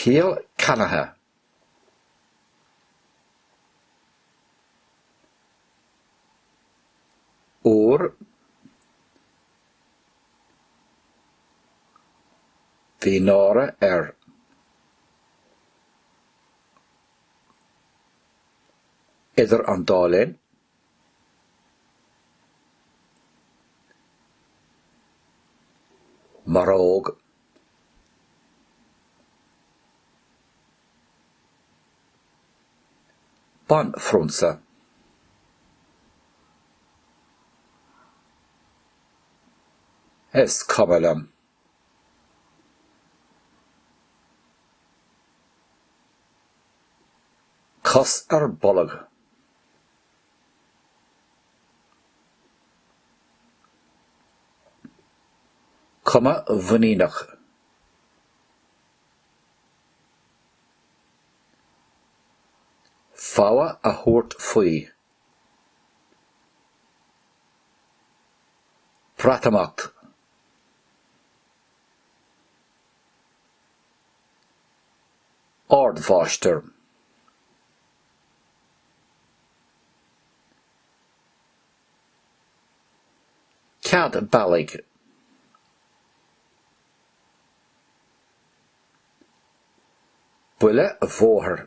Ciall Ceannaithe. Uair bhí náire air. Idir an dá linn. Maróg. Banphrionsa. Is cuma liom. Cos ar bolg. Cuma mhuiníneach. Fogha a thabhairt faoi. Breatimeacht. Ardmháistir. Cead bealaigh. Buile bhóthair.